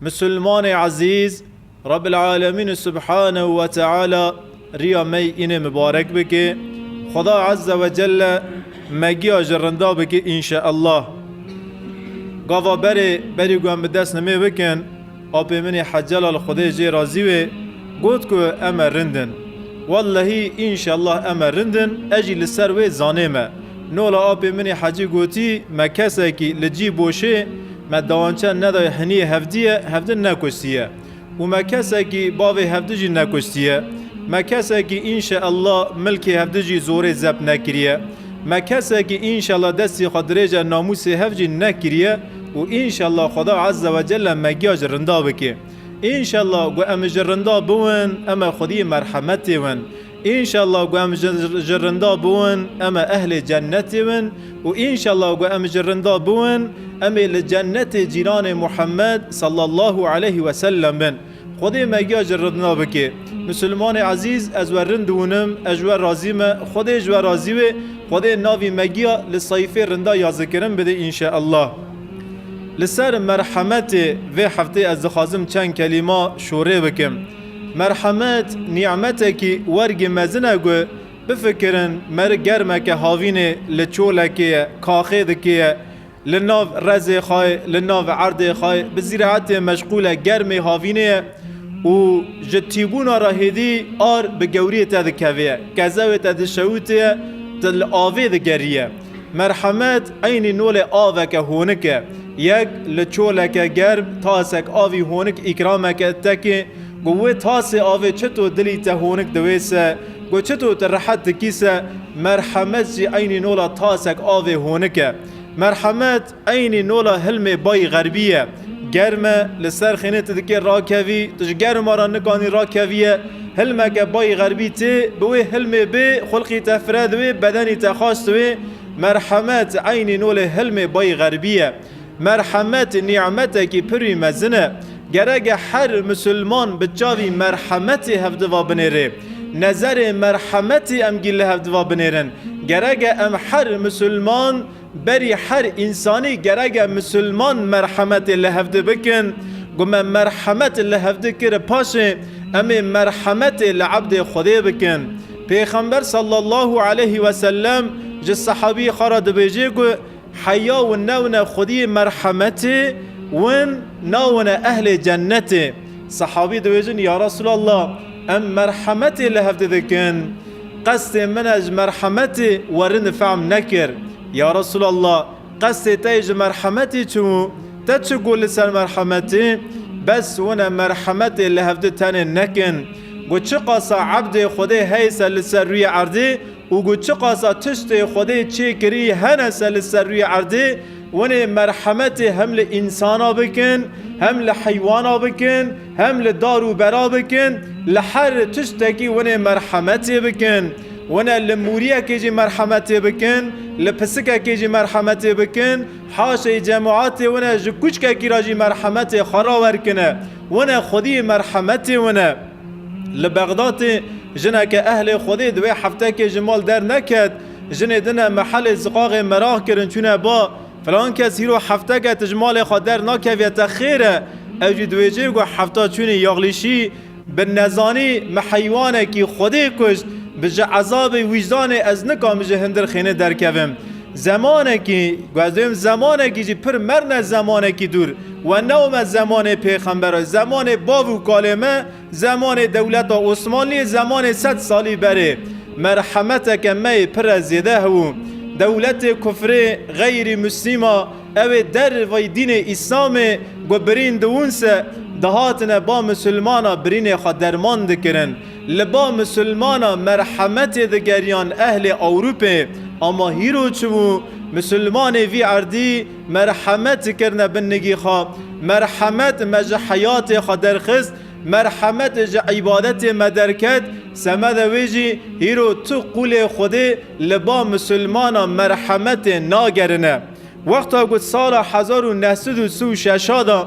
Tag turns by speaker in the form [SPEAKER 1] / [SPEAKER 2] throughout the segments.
[SPEAKER 1] Musulmanê ezîz, Rebbil Alemîn Subhanehu ve Teala riya me yî înê mibarek bike. Xweda Ezze ve Celle me giya ji rinda bike înşeellah. Gava berê berî ku em bi dest nimê bikin, apê min ê Heccelal Xwedê jê razî wê got ku em e rind in. Wellehî înşeellah em e rind in, ez jî li ser wê zanê me. Nola apê min ê Hecî gotî me kesekî li cî boşê, Me dawançe nedaye heniyê hevdiyê hevdi nekuştiye û me kesekî bavê hevdi jî nekuştiye. Me kesekî înşe ellah milkê hevdi jî zorê zept nekiriye. Me kesekî înşe ellah destê xwe dirêje namûsê hev jî nekiriye û înşe ellah Xweda Eze we Celle me giya ji rinda bike. Înşe ellah ku em ji rinda biwin em e xwediyê merhemetê win. Înşallah ku em ji rinda bûn em ê ehlê cennetê bin û înşallah ku em ji rinda bûn em ê li cennetê cîranê Muhammed sallallahu aleyh we sellem bin. Xwedê me giya ji rinda bike. Misilmanê ezîz ez we rind dûnim ez ji we razî me Xwedê ji we razî be Xwedê navî me giya li seyfê rinda ya zikirin bide înşallah. Li ser merhemetê vê heftê ez dixwazim çend kelîma şorê bikim. Merhemet nîmetekî wergî mezin e ku bifikirin meri germeke havînê li çolekê ye, kaxê dikê ye, li nav rezê xwe ye, li nav erdê xwe ye, bi zîraetê meşqûl e, germê havînê ye û ji tîbûna re hêdî ar bi gewriyê te dikeve ye, kezewê te dişewite ye, tu li avê digerî ye. Merhemet eynî nolê aveke honik e. Yek li çoleke germ tasek avî honik îkrameke te kê. Got wê tasê avê çito dilî te honik diwêse, got çito tu rehet dikîse, merhemet jî eynî nola tasek avê honik e. Merhemet. Eynî nola hilmê bayî xerbî ye. Germ e, li ser xênê tu dikê rakevî, tu ji germa re nikanî rakeviye. Hilmeke bayî xerbî tê, bi wê hilmê bê, xulqî te fire diwê, bedenî te xaş diwê. Merhemet, eynî nolê hilmê bayî xerbî ye. Merhemet nî'metekî pirî mezin e. Gerek e her misilman bi çavî merhemetê hevdiva binêrê. Nezerê merhemetê em gîl li hevdiva binêrin. Gerek e em her misilman Berî her însanî gerege misilman merhemetê li hevdi bikin. Ku me merhemet li hevdi kiri paşê em ê merhemetê li ebdê Xwedê bikin. Pêxember sallallahu aleyhi ve sellem ji sehabî xwe re dibêjê ku heya win newne Xwedî merhemetê win nawne ehlê cenetê. Sehabî dibêjin, Ya Resûlallah! Em merhemetê li hev didikin. Qestê min e ji merhemetê we rind fehm nekir. Ya Resûlallah! Qestê te yê ji merhemetê çi bû? Te çi got li ser merhemetê? Bes win e merhemetê li hevdu tenê nekin. Got çiqasa ebdê Xwedê heye se li ser rûyê erdê û got çiqasa tiştê Xwedê çê kirî hene se li ser rûyê erdê, Hûn ê merhemetê hem li însana bikin, hem li heywana bikin, hem li dar û bera bikin, li her tiştekî hûn ê merhemetê bikin. Hûn ê li mûriyekê jî merhemetê bikin, li pisikekê jî merhemetê bikin, haşeyî cemaetê hûn ê ji kûçkekî re jî merhemetê xwe rawer kin e. Hûn ê xwedî merhemetê hûn e. Li Bexdatê jineke ehlê Xwedê di wê heftekê ji mal derneket. Jinê din e mehelê ziqaxê meraq kirin çûne ba, filan kes hîro hefteke tij malê xwe der nakeviye te xêr e, ew jî diwêjê ku hefta çûnî yaxlîşî bi nezanî me heywanekî xwedê kuşt, bi ji ezabê wîcdanê ez nikamî ji hindir xênê derkevim. Zemanekî, ku ez duyim zemanekî jî pir mern e zemanekî dûr, we ne ome zemanê pêxember e, zemanê bav û kalê me, Zemanê dewleta Osmanlî zemanê sed salî berê merhemeteke me yê pire zêde hebû. Dewletê kufrê, xeyrî muslîma ew ê dervey dînê îslamê ku birîn diwûn se dihatine ba musulmana birînê xwe derman dikirin. Li ba musulmana merhemetê digeriyan ehlê Ewrûpê ama hîro çi bû? Musulmanê vî erdî, Merhemet kirine bin nigî xwe. Merhemet me ji heyatê xwe derxist, merhemet ji îbadetê me derket, semeda wê jî hîro tu qûlê Xwedê li ba misilmanan merhemetê nagerine. Wexta ku di sala hezar û neh sed û si û şeş a de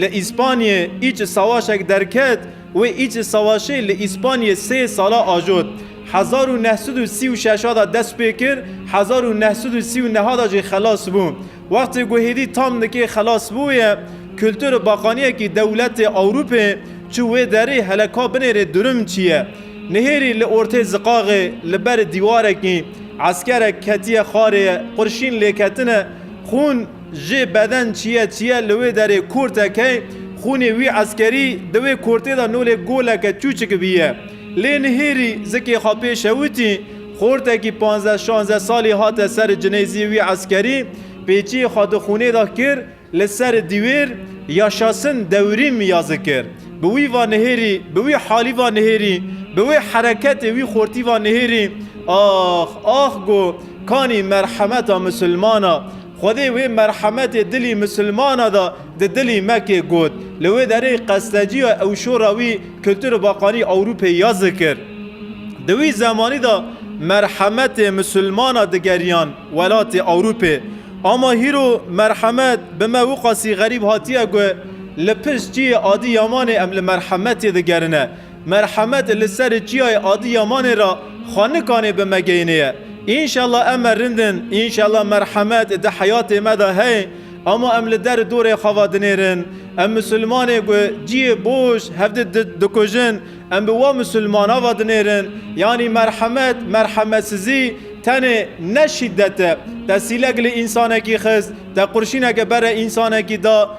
[SPEAKER 1] li Îspanyê îç sawaşek derket, Wê Îc ê Sawaşê li Îspanyê sê sala ajot. Hezar û neh sed û sî û şeş a de dest pê kir, hezar û neh sed û sî û neh a de jî xelas bû. Wextê ku hêdî tam dikê xelas bûye, kultur û baqaniyekî dewletê Ewrûpê çû wê derê hele ka binêrê durum çi ye. Nihêrî li ortê ziqaxê li ber dîwarekî eskerek ketiye xarê qurşîn lêketine xûn. Jê beden çiye çiye li wê derê korte key, xûnê wî eskerî di wê kortê de nolê goleke çûçik bîye. Lê nihêrî zikê xwe pê şewitî, xortekî panzdeh şanzdeh salî hate ser cinêzî wî eskerî, pêçiyê xwe di xûnê de kir li ser dîwêr, Yaşasın devrim yazı kir. Bi wî va nihêrî, bi wî halî va nihêrî, bi wê hereketê wî xortî va nihêrî, Ax, ax go, kanî merhemeta musulmana. Xwedê wê merhemetê dilî misilmana da di dilî mekê got. Li wê derê qesteciya ewşora wî Kultur Bakanî Ewrûpê ya zikir. Di wî zemanî da merhemetê misilmana digeriyan welatê Ewrûpê. Ama hîro merhemet bi me wiqasî xerîb hatiye ku li pişt çiyê adî Yamanê em li merhemetê digerine. Merhemet li serê çiyayê Adiyamanê ra xanikanê bi me geyniye. Înşella em me rind in, înşella merhemet di heyatê me de heye ama em li der dorê xwe ve dinêrin. Em misilmanê ku ciyê boş hevdi dikujin em bi we misilmana ve dinêrin. Yanî merhemet, merhemetsizî tenê ne şîdet e. Te sîlek li însanekî xist, te qurşîneke bere însanekî da,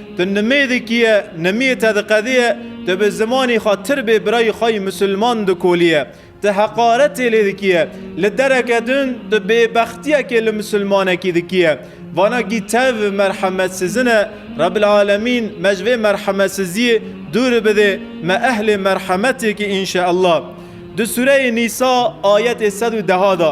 [SPEAKER 1] Tu nimê dikiye, nimiyê te diqediye, tu bi zimanê xwe tir bê birayê xwe yê misilman dikoliye, tu heqaretê lê dikiye, li dereke din tu bêbextiyekê li misilmanekî dikiye. Vana gî tev merhemetsizin e, Rebil Alemîn me ji vê merhemetsiziyê dûr bidê, me ehlê merhemetê ki înşeellah. Di sûreyê Nîsa ayetê sed û deha de.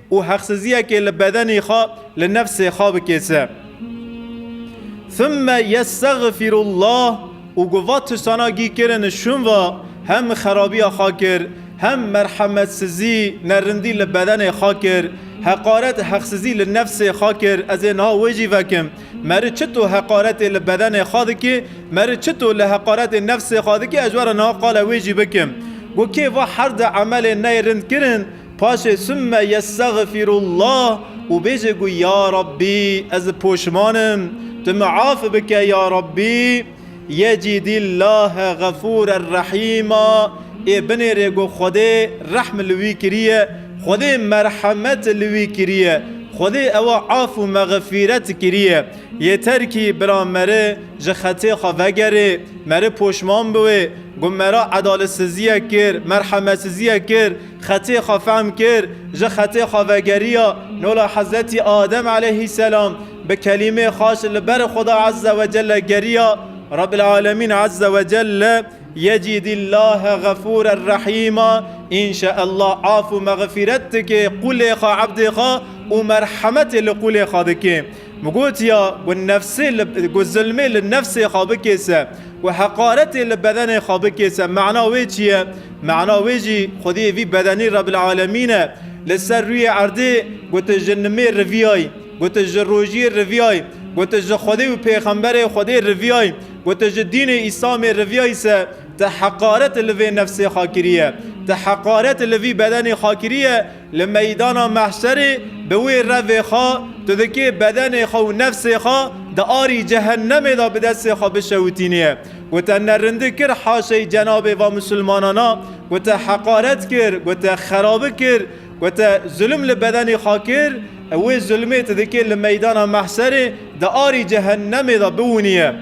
[SPEAKER 1] û heqsiziyekê li bedenê xwe, li nefsê xwe bikêse. Thumme yestexfirullah û ku va tirsana gî kirin şûn va, hem xerabiya xwe kir, hem merhemetsizî, nerindî li bedenê xwe kir, heqaret, heqsizî li nefsê xwe kir, ez ê niha wê jî vekim. Meri çito heqaretê li bedenê xwe dikê, meri çito li heqaretê nefsê xwe dikê, ez were niha qala wê jî bikim. Got kê va herde emelên neyê rind kirin, Paşê summe yestexfirullah û bêje ku ya Rabbî ez poşman im, tu min af bike ya Rabbî yecîdî llahe xefûren rehîma, ê binêrê ku Xwedê rehm li wî kiriye, Xwedê merhemet li wî kiriye, Xwedê ewa af û mexfîret kiriye. Yêter kî bira meri ji xetê xwe vegerê, meri poşman biwê ku mera edaletsiziyek kir, merhemetsiziyek kir, Xetê xwe fehm kir, ji xetê xwe vegeriya nola Hezretî Adem eleyhîsselam, bi kelîmê xweş li ber Xuda Ezze ve Celle geriya, Rebbil Alemîn Ezze ve Celle yecîdîllahe Xefûrer Rehîma, Înşeallah af û mexfîret dike qûlê xwe ebdê xwe û merhemetê li qûlê xwe dike. Min gotiya ku nefsê li ku zilmê li nefsê xwe bikêse, ku heqaretê li bedenê xwe bikêse mana wê çi ye? Mana wê jî xwediyê vî bedenî Rebil Alemîn e. Li ser rûyê erdê ku tu ji nimê riviyayî, ku tu ji rojiyê riviyayî, ku tu ji Xwedê û pêxemberê Xwedê riviyayî, ku tu ji dînê Îslamê riviyayî se tu heqaret li vê nefsê xwe kiriye. Tu heqaret li vî bedenê xwe kiriye. Li meydana mehşerê bi wê revê xwe tu dikê bedenê xwe û nefsê xwe di arî cehennemê de bi destê xwe bişewitînî. Ku te nerindik kir haşeyî cenabê va misilmanan a, ku te heqaret kir, ku te xerabik kir, ku te zulim li bedenê xwe kir, ew wê zulimê tu dikê li meydana mehşerê di arî cehennemê de biwinî.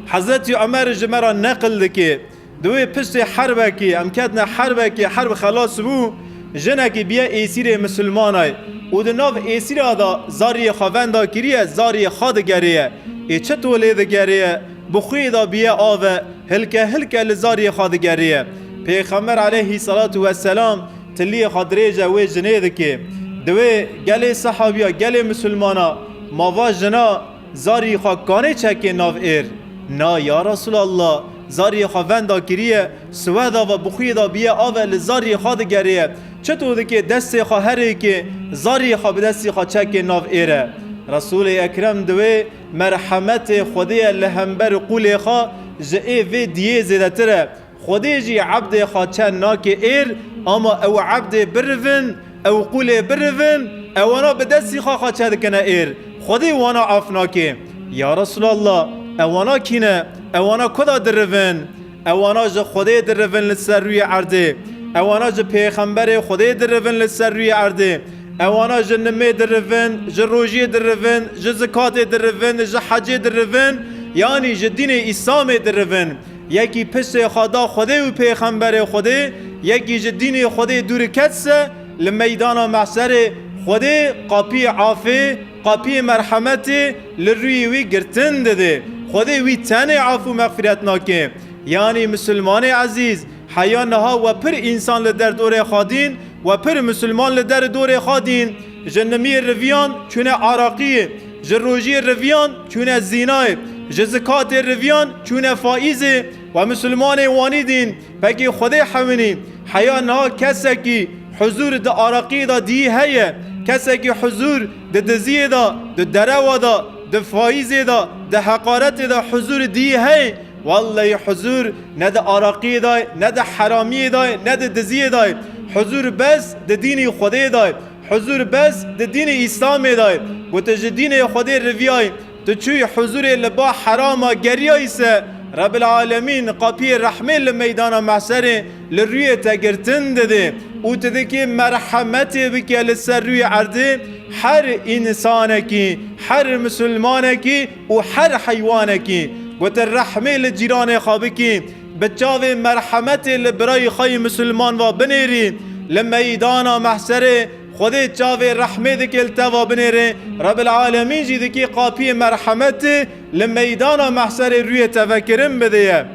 [SPEAKER 1] Hezretî Umer ji me re neqil dikê. Di wê piştê herbekê em ketine herbekê, herb xelas bû, jinekî biye êsîrê misilmanay û di nav êsîra da zariyê xwe venda kiriye, zariyê xwe digerêye. Ê çi to lê digerêye? Bi xwê da biye ave, hilke hilke li zariyê xwe digerêye. Pêxember eleyhî selatû we selam tiliyê xwe dirêje wê jinê dike. Di wê gelê sehabiya gelê misilmana ma va jina zariyê xwe kanê çekê nav êr. Na ya Resûlallah! Zariyê xwe venda kiriye, siwehda ve bi xuyê de biye ave li zariyê xwe digerêye. Çito dike destê xwe herêke, zariyê xwe bi destî xwe çeke nav êre. Resûlê Ekrem di wê merhemetê Xwedê ye li hember qûlê xwe ji ê vê diyê zêdetir e. Xwedê jî ebdê xwe çen nake êr ama ew ebdê birivin, Ew qûlê birivin, ewana bi destî xwe xwe çedikine êr, Xwedî wana af nake. Ya Resûlallah! Ewana kî ne? Ewana ku de dirivin? Ewana ji Xwedê dirivin li ser rûyê erdê. Ewana ji pêxemberê Xwedê dirivin li ser rûyê erdê. Ewana ji nimê dirivin, ji rojiyê dirivin, ji zikatê dirivin, ji hecê dirivin, yanî ji dînê Îslamê dirivin. Yekî pisê xwe da Xwedê û pêxemberê Xwedê, yekî ji dînê Xwedê dûr ket se, li meydana mehserê Xwedê qapiyê afê, qapiyê merhemetê li rûyê wî girtin didê. Xwedê wî tenê af û mexfîret nake. Yanî Musulmanê ezîz, heya niha we pir însan li derdorê xadîn, we pir Musulman li deridorê xadîn. Ji nimiyê riviyan çûne Araqiyê, ji rojiyê riviyan çûne Zînayê, ji zikatê riviyan çûne Faîzê we Musulmanê Wanî dîn pekê Xwedê hewinî. Heya niha kesekî huzûr di Araqiyê de dîyî heye, kesekî huzûr di diziyê de, di derewa de, di faîzê de, di heqaretê de huzûr dîyî hey, welleyî huzûr Ne di araqiyê de ye, ne di heramiyê de ye, ne di diziyê de ye. Huzûr bes di dînî Xwedê de ye. Huzûr bes di dînî Îslamê de ye. Ku tu ji dînê Xwedê riviyayî, tu çûyî huzûrê li ba herama geriyayî ser, Rebil Alemîn qapiyê rehmê li meydana mehserê li rûyê te girtin dide û tu dikê merhemetê bike li ser rûyê erdê her însanekî, her misilmanekî. û her heywanekî ku tu rehmê li cîranê xwe bikî, bi çavê merhemetê li birayî xwe yê misilman ve binêrî, li meydana mehserê Xwedê çavê rehmê dikê li te ve binêrê, Rebil'alemîn jî dikê qapiyê merhemetê li meydana mehserê rûyê te vekirin bidêye.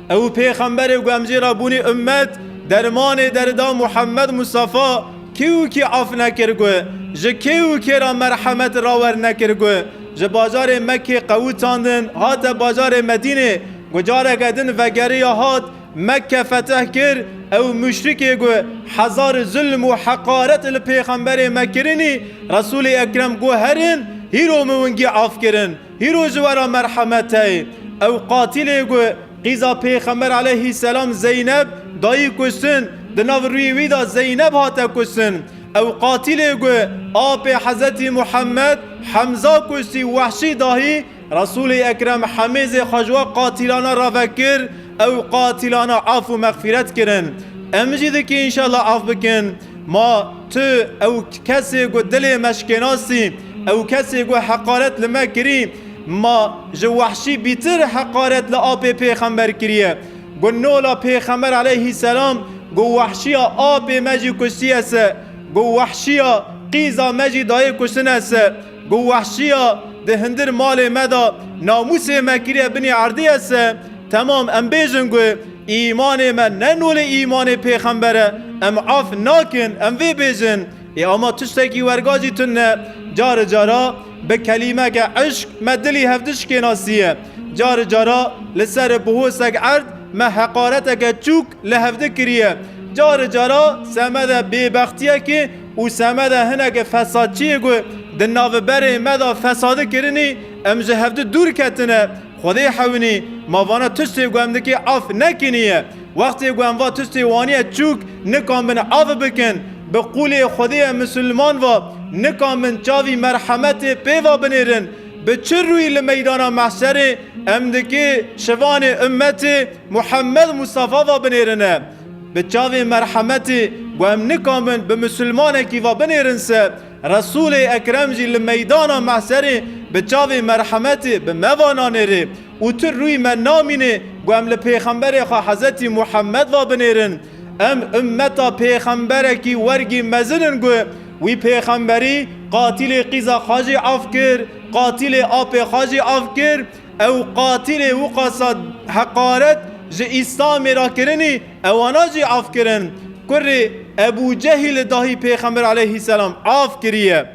[SPEAKER 1] Ew pêxemberê ku em jê re bûnî ummet, dermanê derida Muhammed Mustafa kê û kê af nekir ku ji kê û kê re merhemet rawer nekir ku ji bajarê Mekkê qewitandin hate bajarê Medînê ku careke din vegeriya hat Mekke fetih kir ew muşrikê ku hezar zulm û heqaret li pêxemberê me kirinî Resûlê Ekrem guherin hîro min wingî af kirin Hîro ji wera merhemeteyê, ew qatilê ku qîza Pêxember aleyhî selam Zeyneb dayî kuştin, di nav rûyê wî de Zeyneb hate kuştin. Ew qatilê ku apê Hezretî Muhemmed, Hemza, kuştî Wehşî dahî Resûlê Ekrem hemêzê xwe ji we qatilana re vekir, ew qatilana af û mexfîret kirin. Em jî dikê înşallah af bikin. Ma tu ew kesê ku dilê me şikênasî, ew kesê ku heqaret li me kirî, ma ji wehşî bîtir heqaret li apê pêxember kiriye. Ku nola pêxember eleyhî selam, ku wehşiya apê me jî kuştiye se, ku wehşiya qîza me jî dayê kuştine se. Ku wehşîya di hindir malê me de namûsê me kiriye binê erdê ye se temam em bêjin ku îmanê me ne nolê îmanê pêxember e em af nakin em vê bêjin ê ama tiştekî werga jî tund e cari cara bi kelîmeke îşq me dilî hevdişkê nasiye cari cara li ser bihosek erd me heqareteke çûk li hevdî kiriye. Cari cara semeda bêbextiyekê û semeda hineke fesadçiyê ku di naviberê me de fesadi kirinî, em ji hevdî dûr ketine. Xwedê hewinî, ma vana tiştê ku em dikê af nekinî ye. Wextê ku em va tiştê waniye çûk nikambin avi bikin. Bi qûlê Xwedê em misilman va nikambin çavî merhemetê pê va binêrin. Bi çi rûyî li meydana mehşerê em dikê şivanê ummetê, Muhammed Mustafa va binêrine bi çavên merhemetî ku em nikamin bi misilmanekî va binêrin se, Resûlê Ekrem jî li meydana mehserê bi çavên merhemetî bi me va nanêrê û tu rûyî me namînê ku em li pêxemberê xwe Hezretî Muhammed va binêrin. Em ummeta pêxemberekî wergî mezin in ku wî pêxemberî qatilê qîza xwe jî af kir, qatilê apê xwe jî af kir, Ew qatilê wiqasa heqaret ji Îslamê re kirinî ewa nacî af kirin. Kurê Ebû Cehîl li dahî Pêxember aleyhîsselam af kiriye.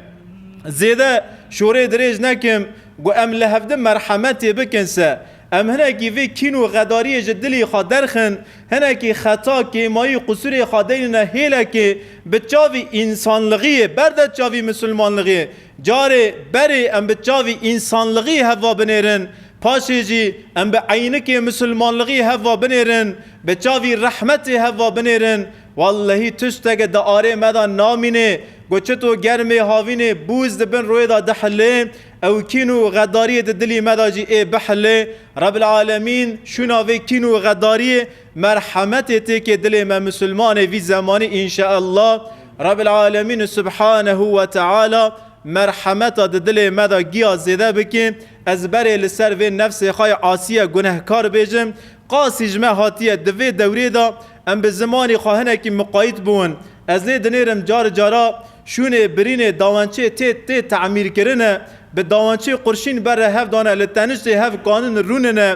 [SPEAKER 1] Zêde şorê dirêj nekim ku em li hevdin merhemetê bikin se. Em hinekî vê kîn û xedariyê ji dilê xwe derxin, hinekî xeta, kêmayî, qusûrê xwe deynine hêlekê bi çavî însanlixiyê berde çavî misilmanlixiyê. Carê berê em bi çavî însanlixî hev va binêrin, paşê jî em bi eynikê misilmanlixî hev va binêrin, bi çavî rehmetê hev va binêrin, wellehî tişteke di arê me de namînê ku çito germê havînê bûz di bin royê de dihilê, ew kîn û xedariyê di dilî me de jî ê bihilê. Rebîl Alemîn şûna vê kîn û xedariyê Merhemetê têkê dilê me Musulmanê vî zemanî inşaallah Rebil Alemîn Subhanehu we Teala merhemeta di dilê me de giya zêde bike ez berê li ser vê nefsê xwe ya asiye gunehkar bêjim qasî ji me hatiye di vê dewrê de em bi zimanî xwe hinekî miqayît bûn ez lê dinêrim car cara şûnê birînê dawençê tê tê temîrkirine bi dawençê qurşîn berre hev dane li teniştê hev kanûn rûnine